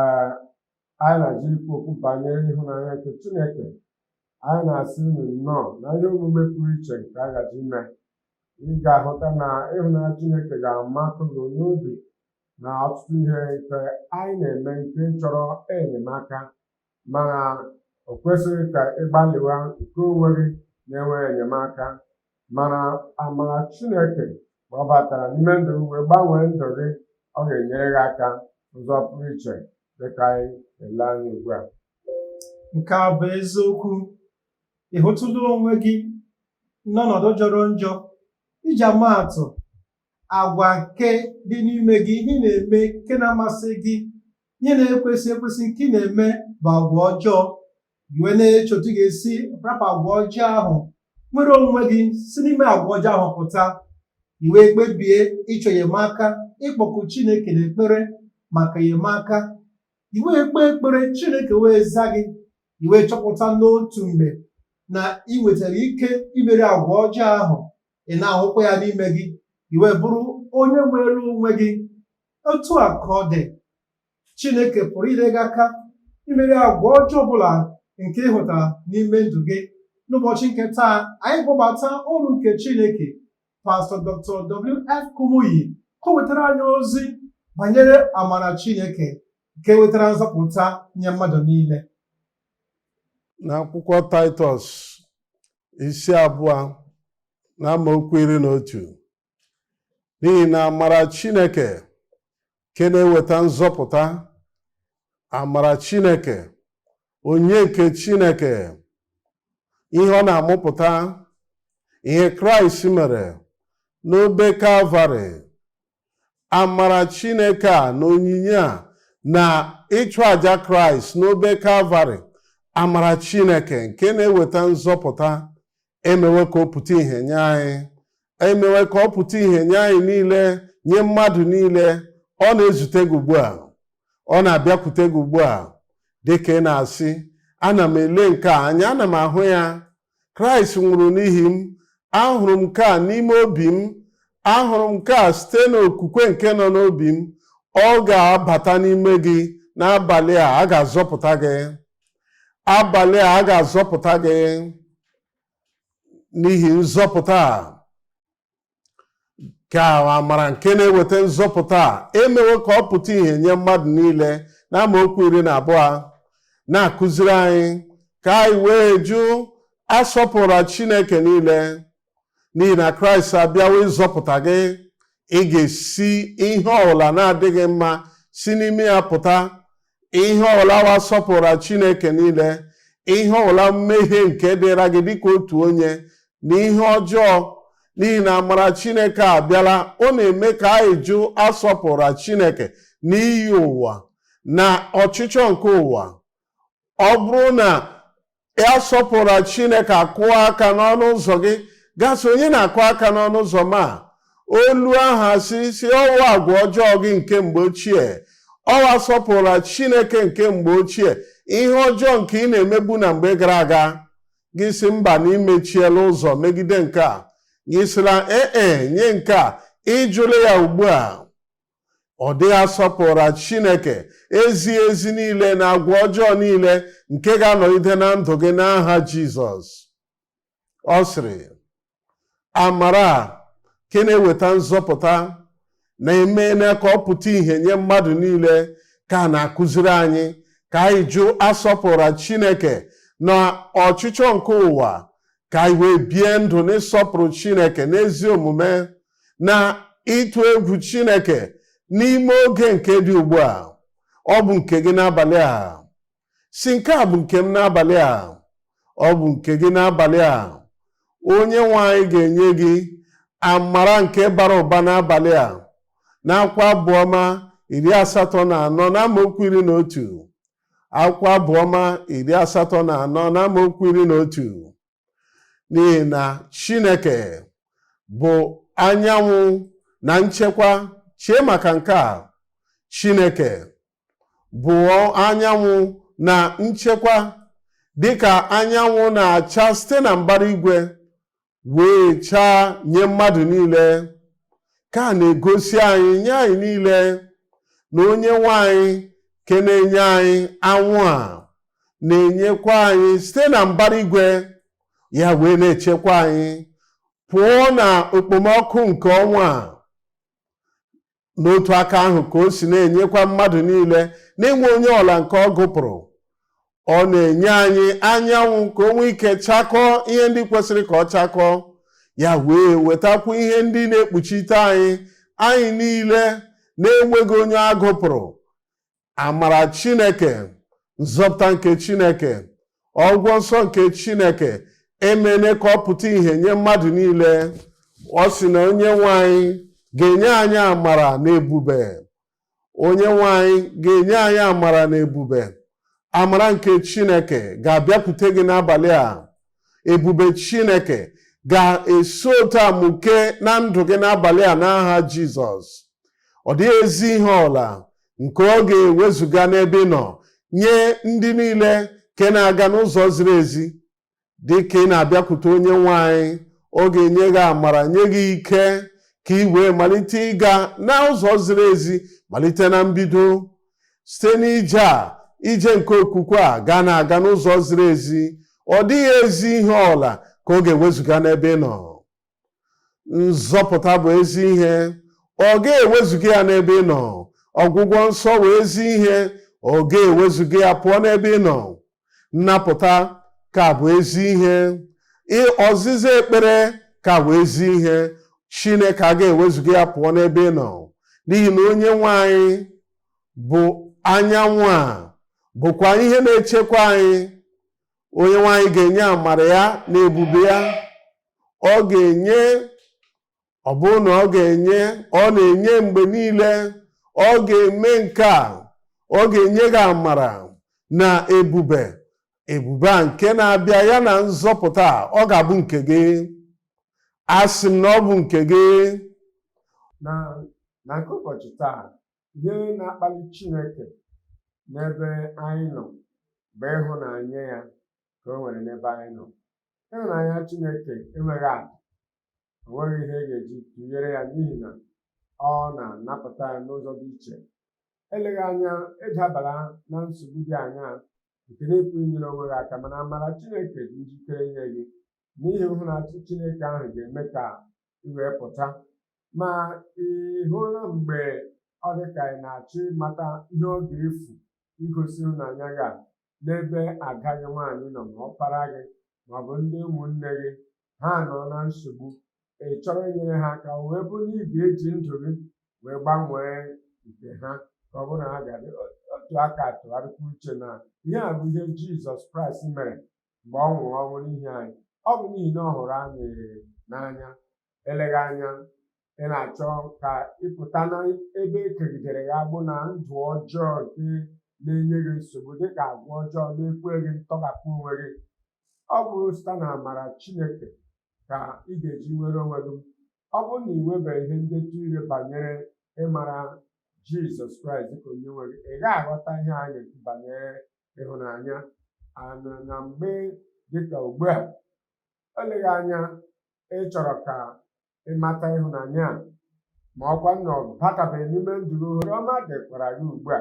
ee anyị na-eje ikwu okwu banyere ịhụnanya nke Chineke anyị na-asị unu nnọọ na ihe omume pụrụ iche nke a gaje ime ị ga-ahụta na ịhụnanya Chineke ga-amakụ gị n'obi na ọtụtụ ihe nke anyị na-eme nke chọrọ enyemaka mana o kwesịghị ka ị gbalịwa nke onwe gị na-enweghị enyemaka mana amara Chineke ma ọ batara n'ime ndụ gị wee gbanwee ndụ gị ọ ga-enyere gị aka n'ụzọ pụrụ iche dịka anyị ele anya ugbu a nke a bụ eziokwu ị hụtụla onwe gị n'ọnọdụ jọrọ njọ iji maa atụ agwa nke dị n'ime gị ihe ị na-eme nke na-amasị gị ihe na-ekwesị ekwesị nke ị na-eme bụ agwa ọjọọ i wee na-eche otu ị ga-esi rapụ agwa ọjọọ ahụ nwere onwe gị si n'ime agwa ọjọọ ahụ pụta i wee kpebie ịchọ enyemaka ịkpọku Chineke n'ekpere maka enyemaka i wee kpee ekpere Chineke wee za gị i wee chọpụta n'otu mgbe na ị nwetara ike imeri agwa ọjọọ ahụ ị na-ahụkwa ya n'ime gị i wee bụrụ onye nwere onwe gị otu a ka ọ dị chineke pụrụ inyere gị aka imeri agwa ọjọọ ọbụla nke ị hụtara n'ime ndụ gị n'ụbọchị nke taa anyị kpọbata oru nke chineke pastọ dr wf kumuyi ka o wetara anyị ozi banyere amara chineke nke wetara nzọpụta nye mmadụ niile n'akwụkwọ taịtọs isi abụọ na amaokwu iri na otu n'ihi na amara chineke nke na-eweta nzọpụta amara chineke onyinye nke chineke ihe ọ na-amụpụta ihe kraịst mere n'obe kalvarị amara chineke a na onyinye a na ịchụ aja kraịst n'obe kalvarị amara chineke nke na-eweta nzọpụta emewe ka ọ pụta ihe nye anyị emewe ka ọ pụta ihe nye anyị niile nye mmadụ niile ọ na-ezute gị ugbu a ọ na-abịakwute gị ugbu a dịka ị na-asị ana m ele nke a anya ana m ahụ ya Kraịst nwụrụ n'ihi m ahụrụ m nke a n'ime obi m ahụrụ m nke a site n'okwukwe nke nọ n'obi m ọ ga-abata n'ime gị n'abalị a a ga-azọpụta gị abalị a a ga-azọpụta gị n'ihi nzọpụta a nke ahụ amara nke na-eweta nzọpụta a emewo ka ọ pụta ìhè nye mmadụ niile na amaokwu iri na abụọ na-akụziri anyị ka anyị wee jụ asọpụrụ chineke niile n'ihi na kraịst abịawo ịzọpụta gị ị ga-esi ihe ọbụla na-adịghị mma si n'ime ya pụta ihe ọbụla wụ asọpụrụ Chineke niile ihe ọbụla mmehie nke dịra gị dịka otu onye na ihe ọjọọ n'ihi na amara Chineke abịala ọ na-eme ka anyị jụ asọpụrụ Chineke n'ihe ụwa na ọchịchọ nke ụwa ọ bụrụ na ya asọpụrụ chineke akụọ aka n'ọnụ ụzọ gị gị asị onye na-akụ aka n'ọnụ ụzọ ma olu ahụ sị sị ọ wụ agwa ọjọọ gị nke mgbe ochie ọ wụ asọpụrụ chineke nke mgbe ochie ihe ọjọọ nke ị na-emebu na mgbe gara aga gị sị mba na i mechiela ụzọ megide nke a gị sịla ee nye nke a ị jụla ya ugbu a ọ dịghị asọpụrụ Chineke ezighi ezi niile na agwa ọjọọ niile nke ga-anọgide na ndụ gị n'aha Jizọs ọ sịrị amara nke na-eweta nzọpụta na e meela ka ọ pụta ìhè nye mmadụ niile nke a na-akụziri anyị ka anyị jụ asọpụrụ Chineke na ọchịchọ nke ụwa ka anyị wee bie ndụ n'ịsọpụrụ Chineke n'ezi omume na ịtụ egwu Chineke n'ime oge nke dị ugbu a ọ bụ nke gị n'abalị a sị nke a bụ nke m n'abalị a ọ bụ nke gị n'abalị a onye nwe anyị ga-enye gị amara nke bara ụba n'abalị a n'akwụkwọ abụọma iri asatọ na anọ na amaokwu iri na otu akwụkwọ abụọma iri asatọ na anọ na amaokwu iri na otu n'ihi na Chineke bụ anyanwụ na nchekwa chee maka nke a Chineke bụ anyanwụ na nchekwa dịka anyanwụ na-acha site na mbara igwe wee chaa nye mmadụ niile nke a na-egosi anyị nye anyị niile na onye nwe anyị ke na-enye anyị anwụ a na-enyekwa anyị site na mbara igwe ya wee na-echekwa anyị pụọ na okpomọkụ nke anwụ a n'otu aka ahụ ka o si na-enyekwa mmadụ niile na-enweghị onye ọbụla nke ọ gụpụrụ ọ na-enye anyị anyanwụ ka o nwee ike chakọọ ihe ndị kwesịrị ka ọ chakọọ ya wee wetakwu ihe ndị na-ekpuchite anyị anyị niile na-enweghị onye a gụpụrụ amara chineke nzọpụta nke chineke ọgwụgwọ nsọ nke chineke emene ka ọ pụta ihe nye mmadụ niile ọ sị na onye nwe anyị ga-enye anyị amara na ebube onye nwe anyị ga-enye anyị amara na ebube amara nke chineke ga-abịakwute gị n'abalị a ebube chineke ga-esi otu a mụke na ndụ gị n'abalị a n'aha jizọs ọ dịghị ezi ihe ọ bụla nke ọ ga-ewezuga n'ebe ị nọ nye ndị niile nke na-aga n'ụzọ ziri ezi dị ka ị na-abịakwute onye nwe anyị ọ ga-enye gị amara nye gị ike ka ị wee malite ịga n'ụzọ ziri ezi malite na mbido site n'ije a ije nke okwukwe a ga na-aga n'ụzọ ziri ezi ọ dịghị ezi ihe ọ bụla ka ọ ga-ewezuga n'ebe ị nọ nzọpụta bụ ezi ihe ọ gaghị ewezuga ya n'ebe ị nọ ọgwụgwọ nsọ bụ ezi ihe ọ gaghị ewezuga ya pụọ n'ebe ị nọ nnapụta ka bụ ezi ihe ọzịza ekpere ka bụ ezi ihe chineke agaghị ewezuga ya pụọ n'ebe ị nọ n'ihi na onye nwe anyị bụ anyanwụ a bụkwa ihe na-echekwa anyị onye nwe anyị ga-enye amara ya na ebube ya ọ ga-enye ọ bụrụ na ọ ga-enye ọ na-enye mgbe niile ọ ga-eme nke a ọ ga-enye gị amara na ebube ebube a nke na-abịa ya na nzọpụta a, ọ ga-abụ nke gị asị m na ọ bụ nke gị na nke ụbọchị taa ihe na-akpali chineke n'ebe anyị nọ bụ ịhụnanya ya ka o nwere n'ebe anyị nọ ịhụnanya chineke enweghị atụ o nweghị ihe a ga-eji tụnyere ya n'ihi na ọ na-anapụta ya n'ụzọ dị iche eleghị anya ị dabara na nsogbu dị anya nke na ị pụghị inyere onwe gị aka mana amara Chineke dị njikere inye gị n'ihi ịhụnanya Chineke ahụ ga-eme ka ị wee pụta ma ị hụla mgbe ọ dị ka ị na-achọ ịmata ihe ọ ga-efu igosi ịhụnanya gị a n'ebe ada gị nwaanyị nọ ma ọkpara gị ma ọ bụ ndị ụmụnne gị ha nọ na nsogbu ị chọrọ inyere ha aka o wee bụrụ na ị ga-eji ndụ gị wee gbanwee nke ha ka ọ bụrụ na ha ga-adị otu aka tụgharịkwa uche na ihe a bụ ihe jizọs kraịst mere mgbe ọ nwụrụ ọnwụ n'ihi anyị ọ bụ n'ihi na ọ hụrụ anyị n'anya eleghị anya ị na-achọ ka ị pụta n'ebe e kegidere gị agbụ na ndụ ọjọọ nke na-enye gị nsogbu dịka agwa ọjọọ na-ekweghị ntọghapụ onwe gị ọ bụ site na amara Chineke ka ị ga-eji nwere onwe gị ọ bụrụ na ị nwebeghị ihe ndetu ire banyere ịmara Jizọs Kraịst dịka onye nwe gị ị ga-aghọta ihe a na-ekwu banyere ịhụnanya a na mgbe dịka ugbu a eleghị anya ị chọrọ ka ịmata ịhụnanya a ma ọkwa na ọ batabeghị n'ime ndụ gị ohere ọma dịkwara gị ugbu a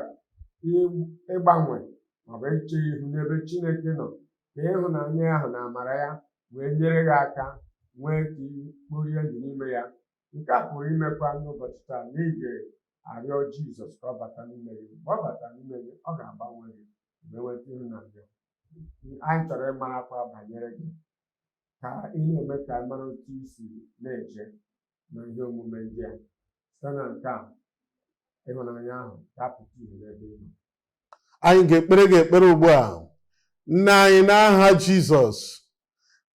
ịgbanwe maọbụ iche ihu n'ebe Chineke nọ ka ịhụnanya ahụ na amara ya wee nyere gị aka nwee ka i kporie ndụ n'ime ya nke a pụrụ imekwa n'ụbọchị taa na ị ga-arịọ Jizọs ka ọ bata n'ime gị mgbe ọ bata n'ime gị ọ ga-agbanwe gị wee nweta ịhụnanya anyị chọrọ ịmarakwa banyere gị ka ị na-eme ka anyị mara otu i si na-eje na ihe omume ndị a site na nke a ịhụnanya ahụ ga-apụta ihe n'ebe ị nọ anyị ga-ekpere gị ekpere ugbu a nna anyị n'aha jizọs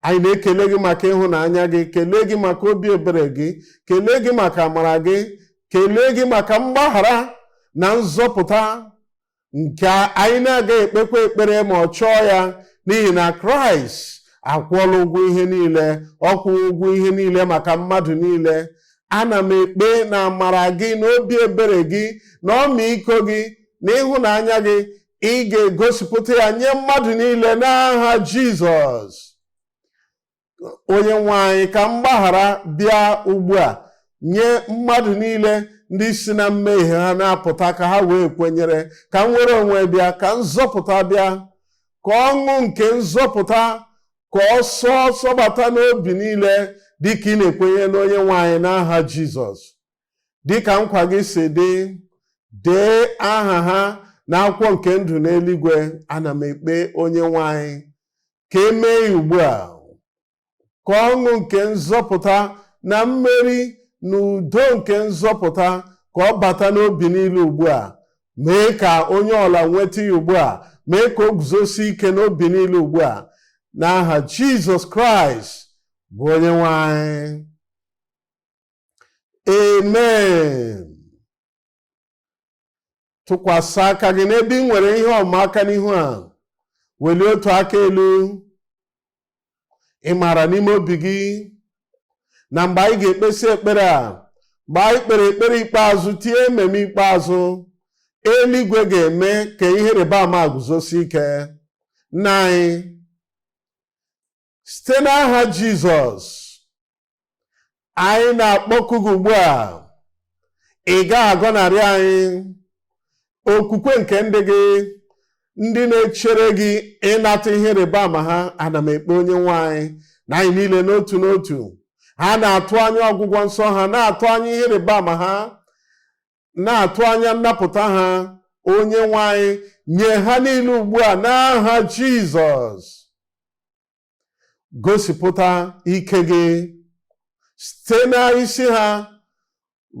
anyị na-ekele gị maka ịhụnanya gị kelee gị maka obi ebere gị kelee gị maka amara gị kelee gị maka mgbaghara na nzọpụta nke anyị na-agaghị ekpekwa ekpere ma ọ chọọ ya n'ihi na kraịst akwụọla ụgwọ ihe niile ọ kwụrụ ụgwọ ihe niile maka mmadụ niile ana m ekpe na amara gị na obi ebere gị na ọmịiko gị na ịhụnanya gị ị ga-egosipụta ya nye mmadụ niile n'aha jizọs onye nwe anyị ka mgbaghara bịa ugbu a nye mmadụ niile ndị si na mmehie ha na-apụta ka ha wee kwenyere ka nnwere onwe bịa ka nzọpụta bịa ka ọṅụ nke nzọpụta ka ọsọ ọsọ bata n'obi niile dịka ị na-ekwenye n'onye nwe anyị n'aha Jizọs dịka nkwa gị si dị dee aha ha n'akwụkwọ nke ndụ n'eluigwe ana m ekpe onye nwe anyị ka e mee ya ugbu a ka ọṅụ nke nzọpụta na mmeri na udo nke nzọpụta ka ọ bata n'obi niile ugbu a mee ka onye ọbụla nweta ya ugbu a mee ka o guzosi ike n'obi niile ugbu a n'aha jizọs kraịst bụ onye nwe anyị amen tụkwasị aka gị n'ebe ị nwere ihe ọmụma aka n'ihu a welie otu aka elu ị maara n'ime obi gị na mgbe anyị ga-ekpesi ekpere a mgbe anyị kpere ekpere ikpeazụ tie amen ikpeazụ eluigwe ga-eme ka ihe ịrịba ama guzosi ike nna anyị site n'aha Jizọs anyị na-akpọku gị ugbu a ị gaghị agọnarị anyị okwukwe nke ndị gị ndị na-echere gị ịnata ihe ịrịba ama ha ana m ekpe onye nwe anyị na anyị niile n'otu n'otu ha na-atụ anya ọgwụgwọ nsọ ha na-atụ anya ihe ịrịba ama ha na-atụ anya nnapụta ha onye nwe anyị nye ha niile ugbu a n'aha Jizọs gosipụta ike gị site n'isi ha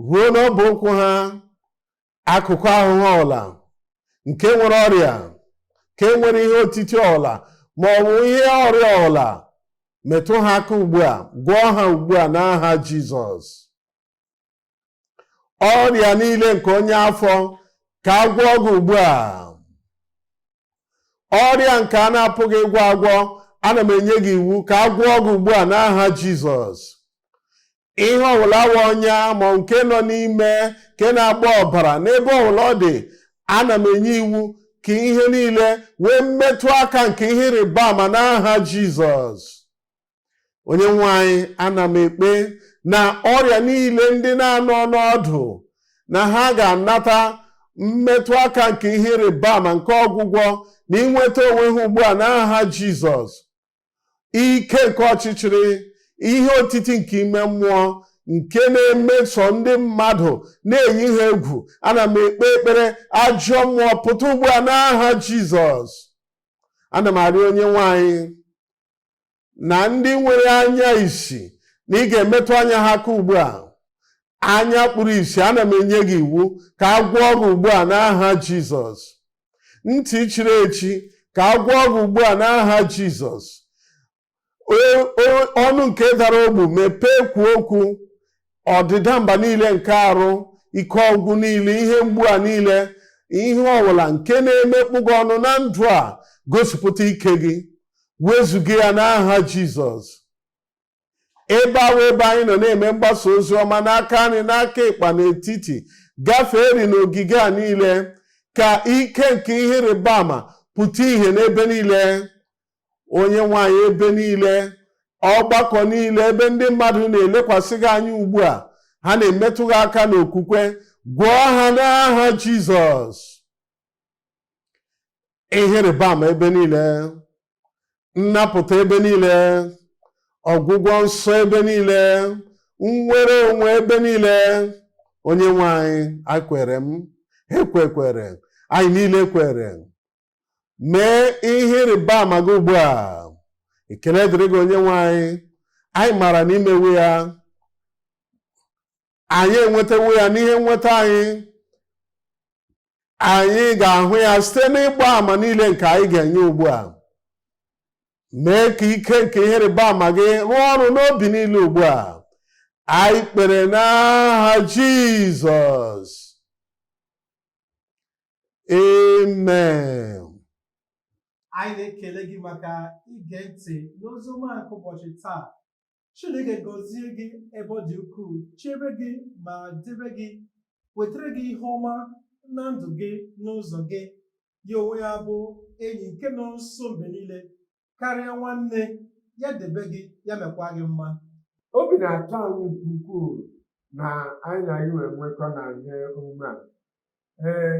ruo n'ọbụ ụkwụ ha akụkụ ahụ ha ọbụla nke nwere ọrịa nke nwere ihe otiti ọbụla ma ọ bụ ihe ọrịa ọbụla metụ ha aka ugbu a gwọọ ha ugbu a n'aha Jizọs ọrịa niile nke ọnya afọ ka a gwọọ gị ugbu a ọrịa nke a na-apụghị ịgwọ agwọ ana m enye gị iwu ka a gwọọ gị ugbu a n'aha jizọs ihe ọwụla wa ọnya ma nke nọ n'ime nke na-agba ọbara n'ebe ọwụla ọ dị ana m enye iwu ka ihe niile nwee mmetụ aka nke ihe ịrịba ama n'aha jizọs onye nwe anyị ana m ekpe na ọrịa niile ndị na-anọ n'ọdụ na ha ga-anata mmetụ aka nke ihe ịrịba ama nke ọgwụgwọ na inweta onwe ha ugbu a n'aha jizọs ike nke ọchịchịrị ihe otiti nke ime mmụọ nke na-emeso ndị mmadụ na-eyi ha egwu ana m ekpe ekpere ajọ mmụọ pụta ugbu a n'aha jizọs ana m arịọ onye nwe anyị na ndị nwere anya isi na ị ga-emetụ anya ha aka ugbu a anya kpuru isi ana m enye gị iwu ka a gwọọ gị ugbu a n'aha Jizọs ntị chiri echi ka a gwọọ gị ugbu a n'aha Jizọs ọnụ nke dara ogbu mepee kwuo okwu ọdịda mba niile nke arụ ike ọgwụ niile ihe mgbu a niile ihe ọbụla nke na-emekpọ ha ọnụ na ndụ a gosipụta ike gị wezuga ya n'aha jizọs ebe ahụ ebe anyị nọ na-eme mgbasa ozi ọma n'aka nri n'aka ịkpa n'etiti gafere n'ogige a niile ka ike nke ihe ịrịba ama pụta ihe n'ebe niile onye nwe anyị ebe niile ọgbakọ niile ebe ndị mmadụ na-elekwasị gị anya ugbu a ha na-emetụ gị aka n'okwukwe gwọọ ha n'aha jizọs ihe ịrịba ama ebe niile nnapụta ebe niile ọgwụgwọ nsọ ebe niile nnwere onwe ebe niile onye nwe anyị ekwere m ekwekwere anyị niile kwere mee ihe ịrịba ama gị ugbu a ekele dịrị gị onye nwe anyị anyị maara na i mewo ya anyị enwetawo ya n'ihe nweta anyị anyị ga-ahụ ya site n'ịgba ama niile nke anyị ga-enye ugbu a mee ka ike nke ihe ịrịba ama gị rụọ ọrụ n'obi niile ugbu a anyị kpere n'aha jizọs amen anyị na-ekele gị maka ige ntị n'oziọma nke ụbọchị taa chineke gọzie gị ebe ọ dị ukwuu chebe gị ma debe gị wetara gị ihe ọma na ndụ gị n'ụzọ gị ya onwe ya bụ enyi nke nọ nso mgbe niile karịa nwanne ya debe gị ya mekwa gị mma obi na-atọ anyị nke ukwuu na anyị na gị nwere nwekọ na ihe omume a ee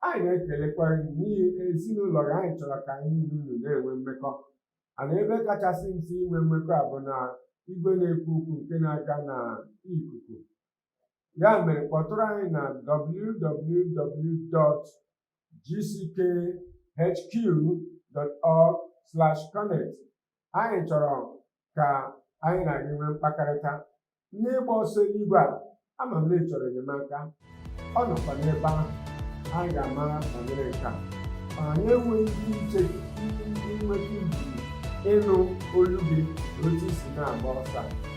anyị na-ekelekwa gị n'ihi ezinụlọ gị anyị chọrọ ka anyị na unu na-enwe mmekọ ana ebe kachasị mfe inwe mmekọ a bụ na igwe na-ekwu okwu nke na-aga na ikuku ya mere kpọtụrụ anyị na gckhq.org slash connect anyị chọrọ ka anyị na gị nwee mkpakọrịta n'ịgba ọsọ eluigwe a ama m na ị chọrọ enyemaka ọ nọkwa n'ebe ahụ anyị ga-amara banyere nke a ma anyị enweghị ike ichere inweta ndidi ịnụ olu gị na otu i si na-agba ọsọ a